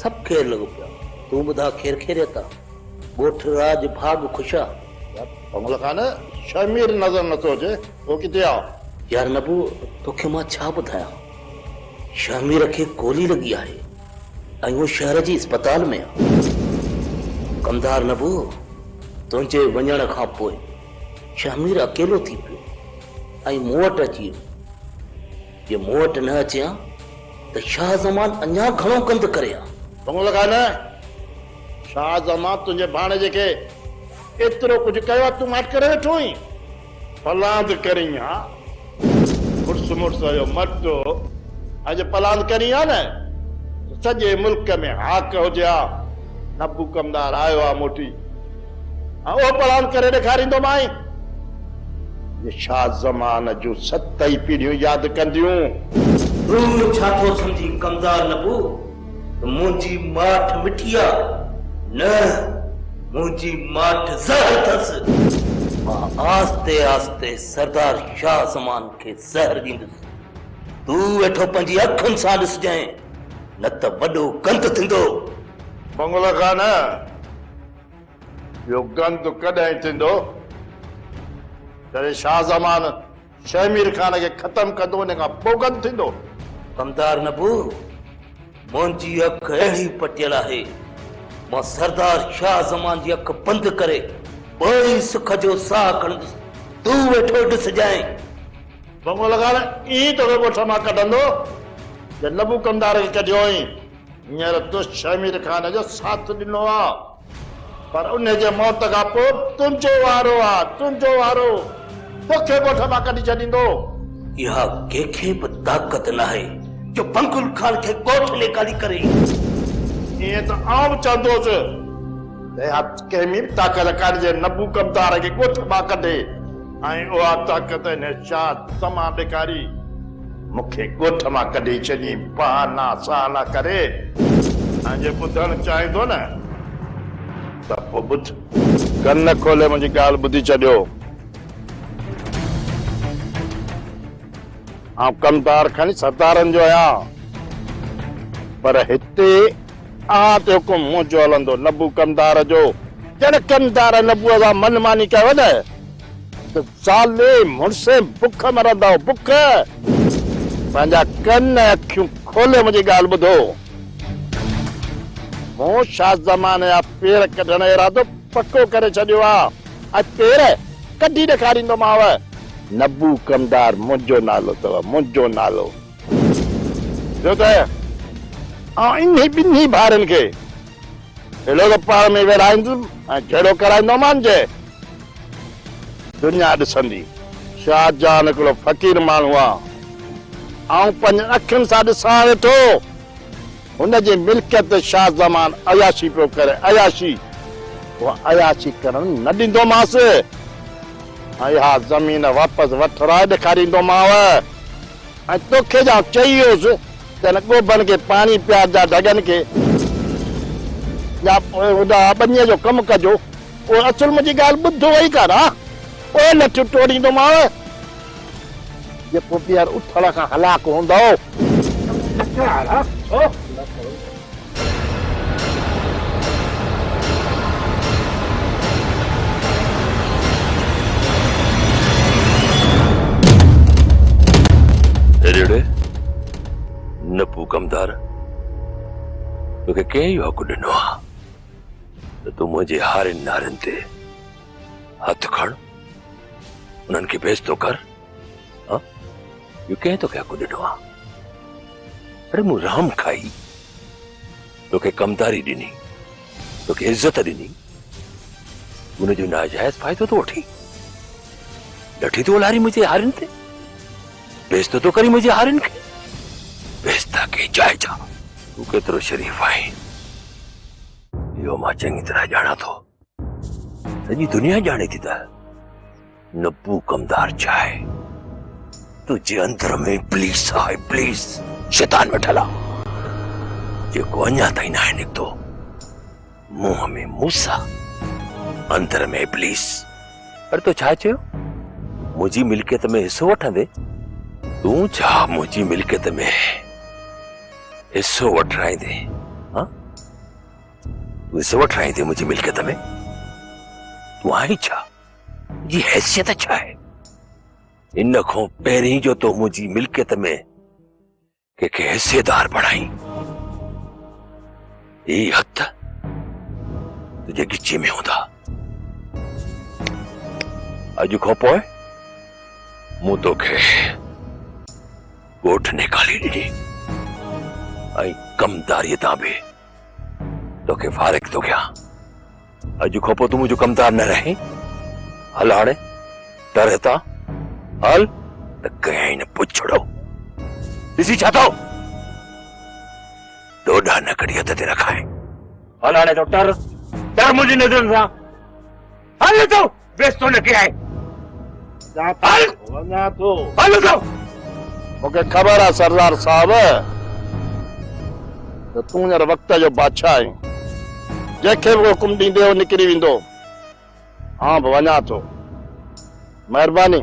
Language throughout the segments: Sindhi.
سڀ کير لڳو پيو آ. تون ٻڌاء کير خيريت آ. ڳوٺ راڄ ڀاڳ خوش آ. يار پنهل کان نه شهمير نظر نٿو اچي اهو ڪٿي آ. يار نبو توکي مان ڇا ٻڌايان. شهمير کي گولي لڳي آهي ۽ هو شهر جي اسپتال ۾ آ. ڪمدار نبو تنهنجي وڃڻ کان پوء شهمير اڪيلو ٿي پيو ۽ مون وٽ اچي ويو. جي مون وٽ نه اچي ها ته شاهه زمان اڃا گهڻو گند ڪري ها. ڀونء لڳا نه! شاهه زمان تنهنجي ڀاڻيجي کي ايترو ڪجهه ڪيو ها، تون ماٺ ڪري ويٺو هئين. پلاند ڪرين ها. مڙس مڙس جو مٽو اڄ پلاند ڪرين ها نه ته سڄي ملڪ ۾ هاڪ هجي ها. نبو ڪمدار آيو ها موٽي. آء اهو پڙهان ڪري ڏيکاريندومانء، جو شاهه زمان جون ست ئي پيڙهيون ياد ڪنديون. تون ڇا ٿو سمجهين ڪمدار نبو، ته منهنجي ماٺ مٺي آ؟ نه، منهنجي ماٺ زهر اٿس. مان آهستي آهستي سردار شاهه زمان کي زهر ڏيندس. تون ويٺو پنهنجي اکين سان ڏسجانء، نه ته وڏو گند ٿيندو. بنگلو خان! اهو گند ڪڏهن ٿيندو؟ جڏهن شاهه زمان شيخ مير خان کي ختم ڪندو ان کان پوء گند ٿيندو. دمدار نبو، منهنجي اک اهڙي پٽيل آهي، مان سردار شاهه زمان جي اک بند ڪري ٻاهرين سک جو ساهه کڻندس، تون ويٺو ڏسجانء. بنگو لگان ائين توکي ڳوٺ مان ڪڍندو، جئن نبو ڪمدار کي ڪڍيو هئائين. هينئر تو شهمير خان جو ساٿ ڏنو آ پر انهي جي موت کان پوء تنهنجو وارو آ تنهنجو وارو توکي ڳوٺ مان ڪڍي ڇڏيندو. اها ڪنهن کي به طاقت ناهي جو بنگل خان کي ڳوٺ ۾ ڪاڍي ڪري. ائين ته آئون به چوندو هوس ته اها ڪنهن ۾ به طاقت ڪانهي جي نبو ڪمدار کي ڳوٺ مان ڪڍي ۽ اها طاقت انهي شاهه سما ڏيکاري. مون کي ڳوٺ مان ڪڍي ڇڏين بهانا سهانا ڪري ۽ جي ٻڌڻ چاهين ٿو نه ته پوء ٻڌ. ڪن کولي منهنجي ڳالهه ٻڌي ڇڏيو. آئون ڪمتار کڻي ستارن جو آهيان پر هتي اوهان تي حڪم منهنجو هلندو نبو ڪمتار جو. جڏهن ڪمتار نبوء سان من ماني ڪيو نه ته زالي مڙسين بک مرندؤ بک. پنهنجا ڪن ۽ اکيون کولي منهنجي ڳالهه ٻڌو. مون شاهه زمان جا پير ڪڍڻ جو ارادو پڪو ڪري ڇڏيو آ ۽ پير ڪڍي ڏيکاريندومانء. نبو ڪمدار منهنجو نالو اٿو منهنجو نالو. ٻيو ته آئون انهي ٻنهي ڀائرن کي اهڙو ته پاڻ ۾ ويڙهائيندس ۽ جهيڙو ڪرائيندومان جي دنيا ڏسندي. شاد جان هڪڙو فقير ماڻهو آ. آئون پنهنجين اکين سان ڏسان ويٺو. هن جي ملڪيت تي شاه زمان عياشي پيو ڪري. عياشي. اها عياشي ڪرڻ نه ڏيندومانس. ۽ اها زمين واپس وٺرائي ڏيکاريندومانء. ۽ توکي جي آئون چئي ويس ته هن ڳوڀن کي پاڻي پيارجان ڍڳن کي. يا پوء هن ٻنيء جو ڪم ڪجو. پوء اصل منهنجي ڳالهه ٻڌ وئي ڪر ها پوء لٺيون ٽوڙيندومانء. جيڪو ٻيهر اٿڻ کان هلاڪ هوندو. هيريڙي، نپو ڪمدار، توکي ڪنهن اهو حق ڏنو آهي؟ ته تون منهنجي هارين نارين تي هٿ کڻ انهن کي بيستو ڪر ها جو ڪنهن توکي حق ڏنو آ اڙي مون رام کائي توکي ڪمداري ڏني توکي عزت ڏني ان جو ناجائز فائدو ٿو وٺي لٺي ٿو لاري منهنجي هارين تي بيزتو ٿو ڪرين منهنجي هارين کي بيزتا ڪي جائي جا تون ڪيترو شريف آهين اهو مان چڱي طرح ڄاڻان ٿو سڄي دنيا ڄاڻي ٿي ته نبو ڪمدار ڇا آهي تنهنجي اندر ۾ پليس آهي پليس شيطان وٺل آهي جيڪو اڃا تائين ناهي نڪتو منهن ۾ موسيٰ، اندر ۾ ابليس. اڙي تو ڇا چيو؟ منهنجي ملڪيت ۾ حصو وٺندين؟ تون ڇا منهنجي ملڪيت ۾ حصو وٺرائيندين؟ ها؟ تون حصو وٺرائيندين منهنجي ملڪيت ۾؟ تون آهين ڇا؟ تنهنجي حيثيت ڇا آهي؟ ان کان پهرين جو تو منهنجي ملڪيت ۾ ڪنهن کي حصيدار بڻائين هي هٿ تنهنجي ڳچي ۾ هوندا اڄ کان پوء مون توکي ڳوٺ نيڪالي ڏني ۽ ڪمداري تان به توکي فارغ ٿو ڪيان اڄ کان پوء تون منهنجو ڪمدار نه رهين هل هاڻي ٽر هتان هل ته ڪيائين نه پڇڙو ڏسي ڇا ٿو ڏوڏا نه ڪڙي هٿ تي رکائين هل هاڻي تو ٽر ٽر منهنجي نظرن سان هل اتو بيستو نه ڪيائين هل وڃا ٿو هل اتو مون کي خبر آ سردار صاحب ته تون هينئر وقت جو بادشاهه آهين جنهن کي به حڪم ڏيندي هو نڪري ويندو آئون به وڃا ٿو مهرباني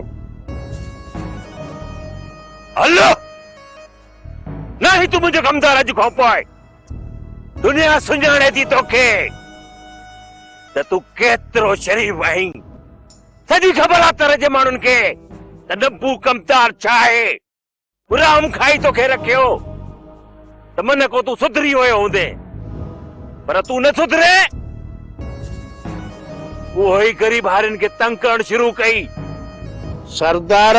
هل نه هي تون منهنجو ڪمدار اڄ کان پوء دنيا سڃاڻي ٿي توکي ته تون ڪيترو شريف آهين سڄي خبر آ تر جي ماڻهن کي ته نبو ڪمتار ڇا آهي حرام کائي توکي رکيو ته من کو تون سڌري ويو هوندي پر تون نه سڌري اهو ئي غريب هارين کي تنگ ڪرڻ شروع ڪئي سردار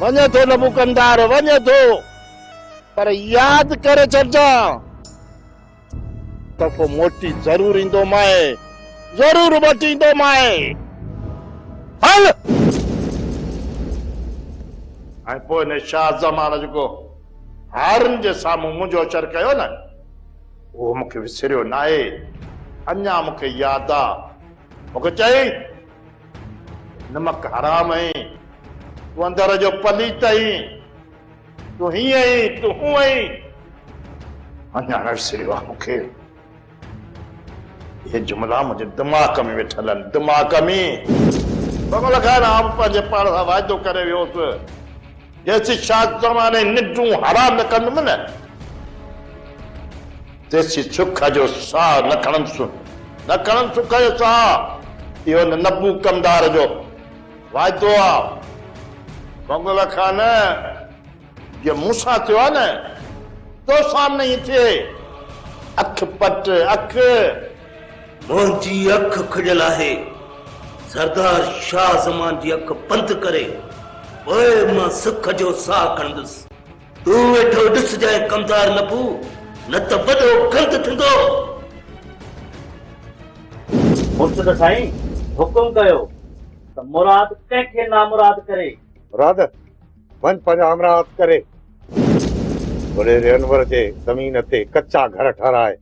وڃي ٿو نبوڪندار وڃي ٿو پر ياد ڪري ڇڏجان تحفو موٽي ضرور ايندو مائي ضرور وٽيندو مائي هل ۽ پوء هن شاهه زمان جيڪو هارن جي سامهون منهنجو اچر ڪيو نه اهو مونکي وسريو ناهي اڃا مونکي ياد آ مونکي چئي نمڪ حرام آهين، تون اندر جو پليت آهين، تون هيئن آهين، تون هونء آهين. اڃا نه وسريو آهي مون کي. اهي جملا منهنجي دماغ ۾ ويٺل آهن، دماغ ۾. بمل خان، آئون پنهنجي پاڻ سان واعدو ڪري ويو هوس. جيسين شاهه زماني ننڊون حرام نه ڪندم نه، تيسين سک جو ساهه نه کڻندسون، نه کڻندس سک جو ساهه، اهو هن نبو ڪمدار جو وعدو آ. بنگله کان نه، جيئن مون سان ٿيو آ نه، توسان نه ائين ٿئي. اک پٽ اک. منهنجي اک کڄيل آهي. سردار شاهه زمان جي اک بند ڪري پوء مان سک جو ساهه کڻندس. تون ويٺو ڏسجانء ڪمدار نبو، نه ته وڏو گند ٿيندو. مرشد سائين حڪم ڪيو ته مراد ڪنهن کي نامراد ڪري. مراد! وڃ پنهنجا همراهه هٿ ڪري وڏيري انور جي زمين تي ڪچا گهر ٺهرائي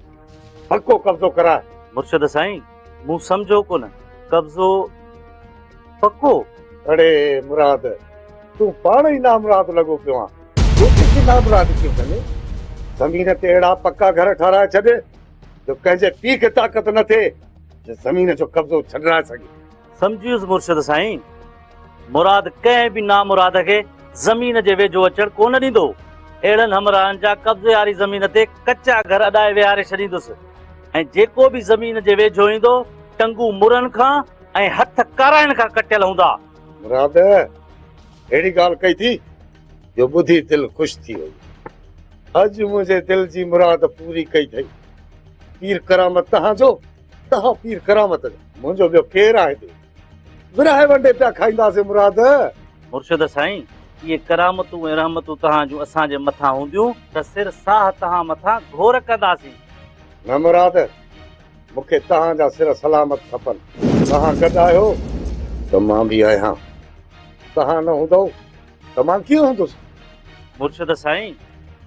پڪو قبضو ڪرائي مرشد سائين مون سمجهو ڪونه قبضو پڪو اڙي مراد تون پاڻ ئي نامراد لڳو پيو آن ڪيتري کي نامراد ڪيو ڪني زمين تي اهڙا پڪا گهر ٺهرائي ڇڏ جو ڪنهن جي پيء کي طاقت نه ٿئي جو زمين جو قبضو ڇڏرائي سگهي سمجهيس مرشد سائين مراد ڪنهن به نامراد کي زمين جي ويجهو اچڻ ڪونه ڏيندو. اهڙن همراهن جا قبضي واري زمين تي ڪچا گهر اڏائي ويهاري ڇڏيندس ۽ جيڪو به زمين جي ويجهو ايندو، ٽنگون مرڻ کان ۽ هٿ ڪارائڻ کان ڪٽيل هوندا. مراد اهڙي ڳالهه ڪئي ٿي جو ٻڌي دل خوش ٿي وئي. اڄ منهنجي دل جي مراد پوري ڪئي اٿئي. پير ڪرامت تهان جو، تهان پير ڪرامت جا. منهنجو ٻيو ڪير آهي دل؟ ورهائي ونڊي پيا کائينداسين مراد. مرشد سائين! اهي ڪرامتون ۽ رحمتون توهان جون اسان جي مٿان هونديون ته سر ساهه توهان مٿان گهور ڪنداسين. نه مراد! مون کي توهان جا سر سلامت کپن. توهان گڏ آهيو ته مان به آهيان. توهان نه هوندؤ ته مان ڪيئن هوندس؟ مرشد سائين!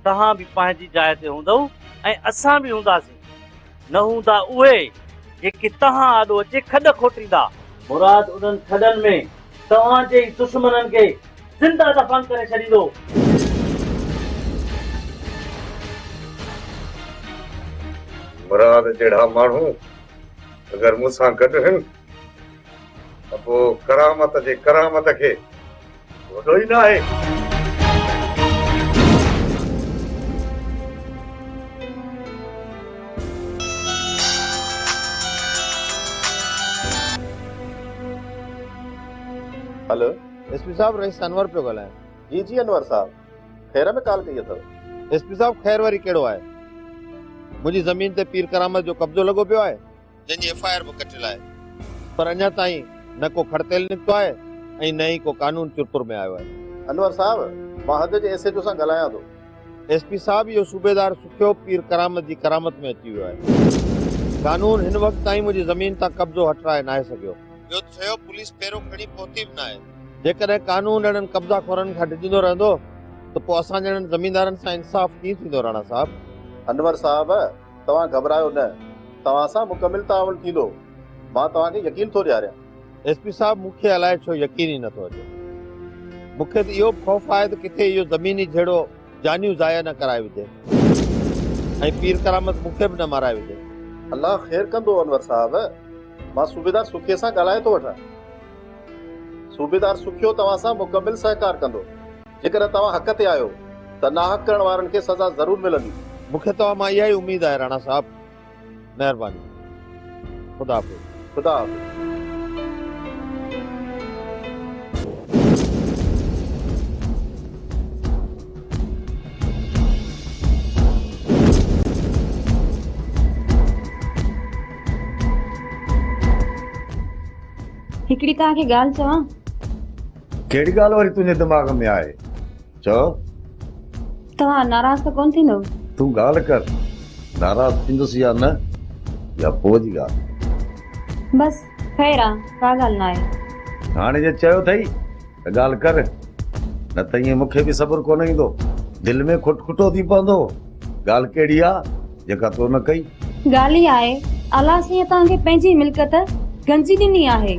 توهان به پنهنجي جاء تي هوندؤ ۽ اسان به هونداسين. نه هوندا اهي، جيڪي توهان آڏو اچي کڏ کوٽيندا. مراد انهن کڏن ۾ توهان جي ئي دشمنن کي زنده دفن ڪري ڇڏيندو. مراد جهڙا ماڻهو اگر مون سان گڏ هن. ته پوء ڪرامت جي ڪرامت کي وڏو ئي ناهي. هلو ايس پي صاحب رئيس انور پيو ڳالهايان جي جي انور صاحب خير ۾ ڪال ڪئي اٿو ايس پي صاحب خير وري ڪهڙو آهي منهنجي زمين تي پير ڪرامت جو قبضو لڳو پيو آهي جنهن جي ايف آء آر به ڪٽيل آهي پر اڃا تائين نه ڪو کڙتيل نڪتو آهي ۽ نه ئي ڪو قانون چرپر ۾ آيو آهي. انور صاحب مان حد جي ايس ايڇ او سان ڳالهايان ٿو. ايس پي صاحب اهو صوبيدار سکيو پير ڪرامت جي ڪرامت ۾ اچي ويو آهي. قانون هن وقت تائين منهنجي زمين تان قبضو هٽرائي ناهي سگهيو. ٻيو ته ڇيو پوليس پهرو کڻي پهتي به ناهي. جيڪڏهن قانون اهڙن قبضا خورن کان ڊڄندو رهندو ته پوء اسان جهڙن زميندارن سان انصاف ڪيئن ٿيندو راڻا صاحب. انور صاحب توهان گهٻرايو نه، توهان سان مڪمل تعاون ٿيندو، مان توهان کي يقين ٿو ڏياريان. ايس پي صاحب مون کي الائي ڇو يقين ئي نٿو اچي. مون کي ته اهو به خوف آهي ته ڪٿي اهو زميني جهيڙو جانيون ضايع نه ڪرائي وجهي ۽ پير ڪرامت مون کي به نه مارائي وجهي. الله خير ڪندو انور صاحب، مان صوبيدار سکيي سان ڳالهائي ٿو وٺان. صوبيدار سکيو توهان سان مڪمل سهڪار ڪندو. جيڪڏهن توهان حق تي آهيو ته ناحق ڪرڻ وارن کي سزا ضرور ملندي. مون کي توهان مان اها ئي اميد آهي راڻا صاحب. مهرباني. خدا حافظ. خدا حافظ. هڪڙي توهان کي ڳالهه چوان. ڪهڙي ڳالهه وري تنهنجي دماغ ۾ آهي چئو توهان ناراض ته ڪونه ٿيندو تون ڳالهه ڪر ناراض ٿيندس يا نه يا پوء جي ڳالهه بس خير آ ڪا ڳالهه نه آهي هاڻي جي چيو اٿئي ته ڳالهه ڪر نه ته ائين مون کي به صبر ڪونه ايندو دل ۾ کٽ کٽو ٿي پوندو ڳالهه ڪهڙي آ جيڪا تو نه ڪئي ڳالهه هي آهي الله سائين توهان کي پنهنجي ملڪيت گنجي ڏني آهي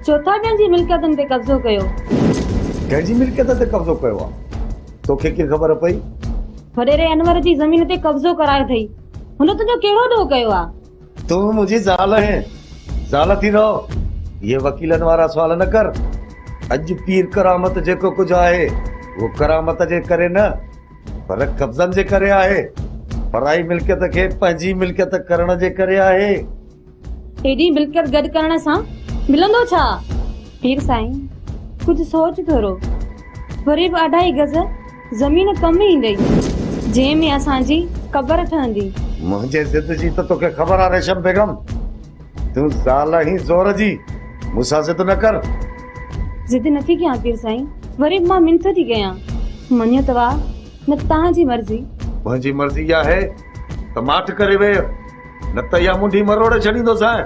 ڇو ٿا ڪنهن جي ملڪيتن تي قبضو ڪيو؟ ڪنهن جي ملڪيت تي قبضو ڪيو آ؟ توکي ڪيئن خبر پئي؟ وڏيري انور جي زمين تي قبضو ڪرايو ٿئي. هن تنهنجو ڪهڙو ڏوهه ڪيو آ؟ تون به منهنجي زال آهين. زال ٿي رهو. اهي وڪيلن وارا سوال نه ڪر. اڄ پير ڪرامت جيڪو ڪجهه آهي اهو ڪرامت جي ڪري نه پر قبضن جي ڪري آهي. پرائي ملڪيت کي پنهنجي ملڪيت ڪرڻ جي ڪري آهي. ايڏي ملڪيت گڏ ڪرڻ سان ملندو ڇا؟ پير سائين ڪجهه سوچ ٿورو، وري به اڍائي گز زمين ڪم ايندئي، جنهن ۾ اسان جي قبر ٺهندي. منهنجي ضد جي ته توکي خبر آ ريشم بيگم، تون زال آهين زور جي، مون سان ضد نه ڪر. ضد نٿي ڪيان پير سائين، وري به مان منٿ ٿي ڪيان، مڃيو ته واهه، نه ته توهان جي مرضي. منهنجي مرضي اها آهي ته ماٺ ڪري ويهه. نه ته اها منڍي مروڙي ڇڏيندوسانء.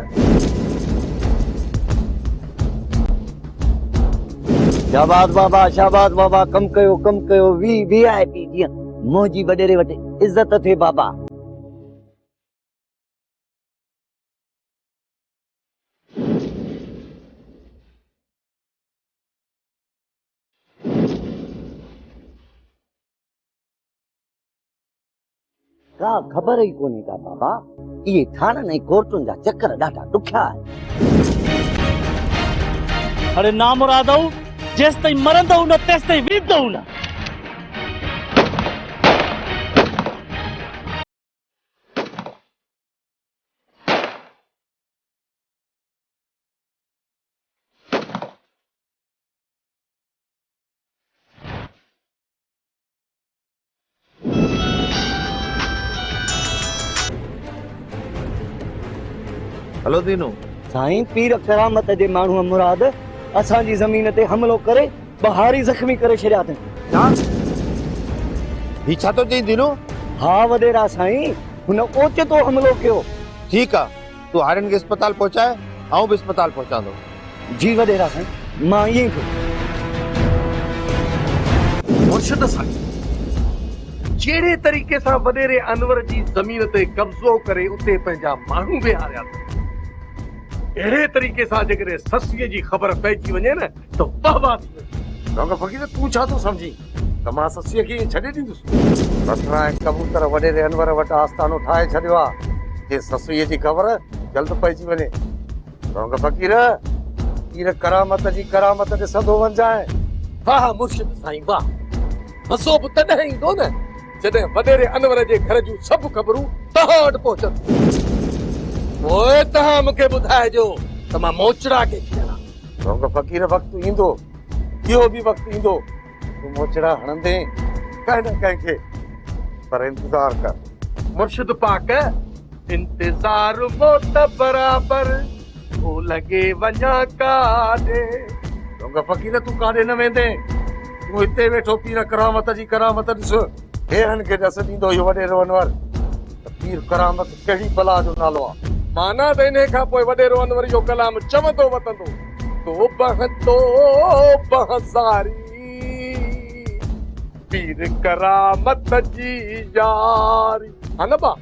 شاباس بابا شاباس بابا ڪم ڪيو ڪم ڪيو وي وي آء پي جيئن منهنجي وڏيري وٽ عزت اٿئي بابا. ڪا خبر ئي ڪونهي ڪا بابا اهي ٿاڻن ۽ ڪورٽن جا چڪر ڏاڍا ڏکيا آهن اڙي نامرادو جيستائين مرندو نه تيستائين ويندو نه هلو دينو. سائين پير ڪرامت جي ماڻهو مراد اسان جي زمين تي حملو ڪري ٻهاري زخمي ڪري ڇڏيا اٿن. ڇا؟ هي ڇا ٿو چئين دينو؟ ها وڏيرا سائين هن اوچتو حملو ڪيو. ٺيڪ آ. تون هارين کي اسپتال پهچاء، آئون به اسپتال پهچان ٿو. جي وڏيرا سائين، مان ائين ئي ڪندس. مرشد سائين جهڙي طريقي سان وڏيري انور جي زمين تي قبضو ڪري اتي پنهنجا ماڻهو بيهاريا اٿن، اهڙي طريقي سان جيڪڏهن سسئي جي خبر پئجي وڃي نه ته واهه واهه ٿي ويندي. ڊاڪٽر فقير تون ڇا ٿو سمجهين؟ ته مان سسيء کي ائين ڇڏي ڏيندس؟ بصره ۽ ڪبوتر وڏيري انور وٽ آستانو ٺاهي ڇڏيو آ، جي سسئيء جي خبر جلد پئجي وڃي. سونگ فقير، پير ڪرامت جي ڪرامت ڏسندو وڃجانء. واهه مرشد سائين واهه. مزو به تڏهن ايندو نه، جڏهن وڏيري انور جي گهر جون سڀ خبرون توهان وٽ پهچنديون. پوء توهان مون کي ٻڌائجو ته مان موچڙا ڪيٿي هڻان. سونگ فقير، وقت ايندو. اهو به وقت ايندو تون موچڙا هڻندين ڪنهن نه ڪنهن کي پر انتظار ڪر مرشد پاڪ انتظار موت برابر هو لڳي وڃا ڪاڏي رنگ فقير تون ڪاڏي نه ويندين تون هتي ويٺو پير ڪرامت جي ڪرامت ڏس هيرن کي ڏس ڏيندو اهو وڏيرو انور پير ڪرامت ڪهڙي بلا جو نالو آ. معنيٰ ته انهيء کان پوء وڏيرو انور اهو ڪلام چوندو وتندو. تو بنهه تو بنهه زاري پير ڪرامت جي ياري. ها نه ڀاء.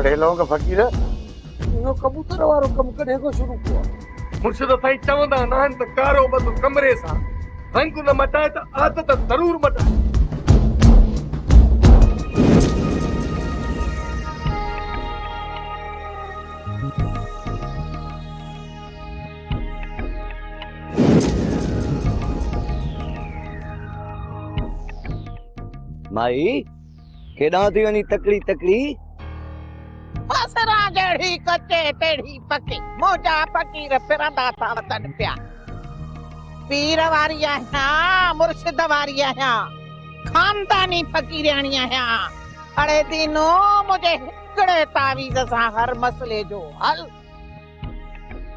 ڙي لونگ فقير اهو ڪبوتر وارو ڪم ڪڏهن کان شروع ڪيو آ. مرشد سائين چوندا ناهن ته ڪارو ٻڌ ڪمري سان رنگ نه مٽائي ته عادت ضرور مٽائي. مائي! ڪيڏانهن ٿي وڃي تڪڙي تڪڙي. بصران جهڙي ڪچي تهڙي پڪي. منهنجا فقير ڦرندا ٿا وتن پيا. پير واري آهيان مرشد واري آهيان. خانداني فقيرياڻي آهيان. اڙي دينو منهنجي هڪڙي تعويذ سان هر مسئلي جو حل.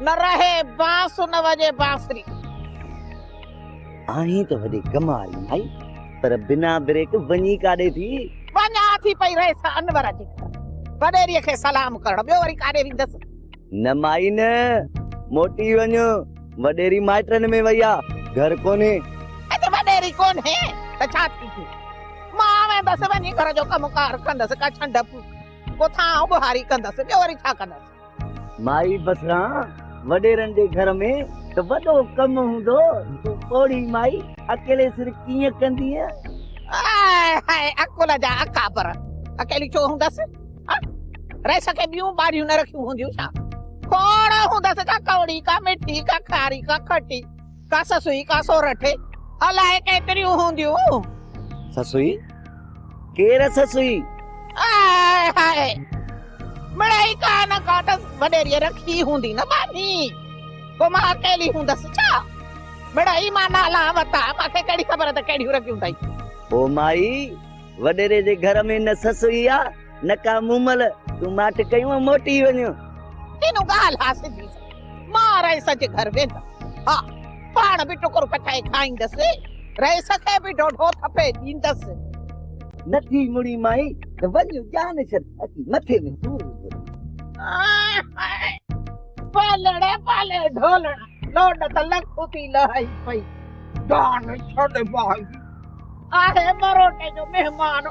نه رهي بانس نه وڄي بانسري. آهين ته وڏي ڪم واري مائي پر بنا بريڪ وڃي ڪاڏي ٿي؟ وڃان ٿي پئي رئيس انور جي گهر وڏيري کي سلام ڪرڻ ٻيو وري ڪاڏي ويندس. نه مائي نه موٽي وڃ وڏيري مائٽن ۾ وئي آ گهر ڪونهي. اڄ وڏيري ڪونهي ته ڇا ٿي پيو مان ويندس وڃي گهر جو ڪم ڪار ڪندس ڪا ڇنڊ ڦوڪ ڪو ٿانء ٻهاري ڪندس ٻيو وري ڇا ڪندس. مائي بسران وڏيرن جي گهر ۾ ته وڏو ڪم هوندو تون پوڙهي مائي اڪيلي سر ڪيئن ڪندينء؟ آء هاء عقل جا اڪابر اڪيلي ڇو هوندس ها رئيس کي ٻيون ٻاريون نه رکيون هونديون ڇا کوڙ هوندس ڪا ڪوڙي ڪا مٺي ڪا کاري ڪا کٽي ڪا سسئي ڪا سورٺي الائي ڪيتريون هونديون. سسئي ڪير سسئي. آء هائي مڙئي ڪا نه ڪا ته وڏيريء رکي هوندي نه ٻانهي. پوء مان اڪيلي هوندس ڇا؟ مڙئي مان نالا وتا مان کي ڪهڙي خبر ته ڪهڙيون رڳيون اٿئي. او مائي وڏيري جي گهر ۾ نه سسئي آ. نڪا مومل تون ماٺ ڪيون موٽي وڃون تينو گال حاصل ٿي مان رئيس جي گھر ويندا ها پاڻ به ٽڪر پچائي کائيندس رئيس کي به ڊوڍو ٿپي ڏيندس نٿي مڙي مائي ته وڃ جان شد اچي مٿي ۾ سور پالڙا پالي ڍولڙا لوڊ ته لک ٿي لهائي پئي جان شد باغي آهي مروٽي جو مهمان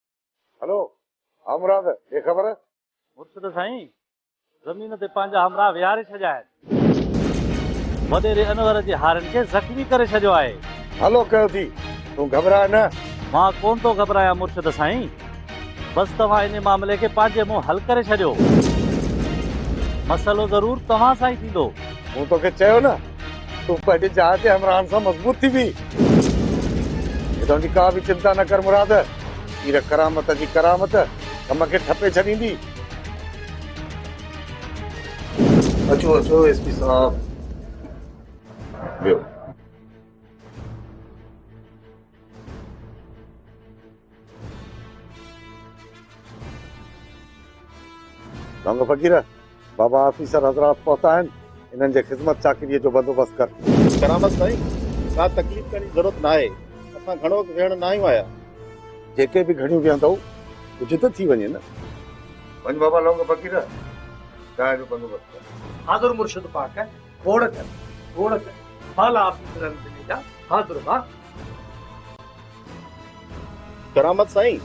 هلو همراهه ته بي خبر. مرشد سائين زمين تي پنهنجا همراهه ويهاري ڇڏيا آهن. وڏيري انور جي هارين کي زخمي ڪري ڇڏيو آهي. هلو ڪيو ٿي تون گهٻراء نه. مان ڪونه ٿو گهٻرايان مرشد سائين. بس توهان انهي معاملي کي پنهنجي منهن حل ڪري ڇڏيو. مسئلو ضرور توهان سان ئي ٿيندو. مون توکي چيو نه. تون پنهنجي جاء تي همراهن سان مضبوط ٿي بيهه. هتان جي ڪا به چنتا نه ڪر مراد. پير ڪرامت جي ڪرامت ڪم کي ٺپي ڇڏيندي. اچو اچو ايس پي صاحب ويهو. ڀنگ فقير بابا آفيسر حضرات پهتا آهن انهن جي خدمت چاڪري جو بندوبست ڪر ڪرامس سائين ڪا تڪليف ڪرڻ جي ضرورت ناهي اسان گهڻو وقت ويهڻ نه آيون آيا جيڪي به گهڙيون ويهندؤ ڪجهه ته ٿي وڃي نه وڃ بابا لونگ فقير چانهه جو بندوبست ڪر حاضر مرشد پاڪ گوڙ ڪن گوڙ ڪن بالا آفيسرن ضلعي جا بھادر واھ. ڪرامت سائين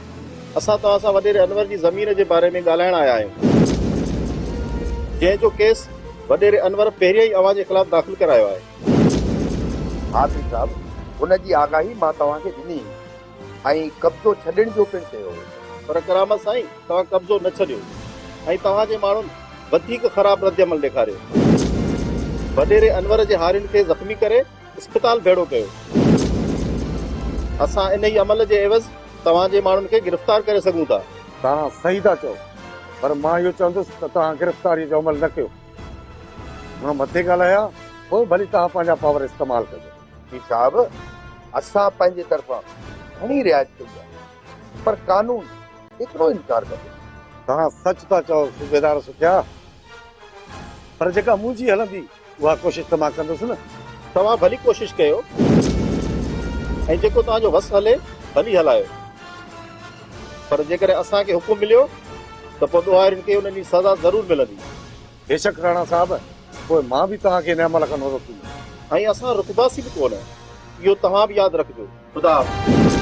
اسان توهان سان وڏيري انور جي زمين جي باري ۾ ڳالهائڻ آيا آهيون جنهن جو ڪيس وڏيري انور پهريائين اوهان جي خلاف داخل ڪرايو آهي. ها پير صاحب ان جي آگاهي مان توهان کي ڏني هئي. ۽ قبضو ڇڏڻ جو پڻ چيو هو. پر ڪرامت سائين توهان قبضو نه ڇڏيو ۽ توهان جي ماڻهن وڌيڪ خراب ردعمل ڏيکاريو. وڏيري انور جي هارين کي زخمي ڪري اسپتال ڀيڙو ڪيو. اسان انهي عمل جي عيوض توهان جي ماڻهن کي گرفتار ڪري سگهون ٿا. توهان صحيح ٿا چئو پر مان اهو چوندس ته توهان گرفتاري جو عمل نه ڪيو. هن مٿي ڳالهايا پوء ڀلي توهان پنهنجا پاور استعمال ڪجو. پير صاحب اسان پنهنجي طرفان گهڻي رعايت ڪئي آهي پر قانون ايترو انڪار ڪندو. توهان سچ ٿا چئو صوبيدار سکيا پر جيڪا منهنجي هلندي اها ڪوشش ته مان ڪندس نه. توهان ڀلي ڪوشش ڪيو ۽ جيڪو توهان جو وس هلي ڀلي هلايو پر جيڪڏهن اسان کي حڪم مليو ته پوء ڏوهارين کي انهن جي سزا ضرور ملندي. بيشڪ راڻا صاحب! پوء مان به توهان کي انهيء عمل کان نه روڪيندس. ۽ اسان رڪنداسين به ڪونه. اهو توهان به ياد رکجو. خدا حافظ.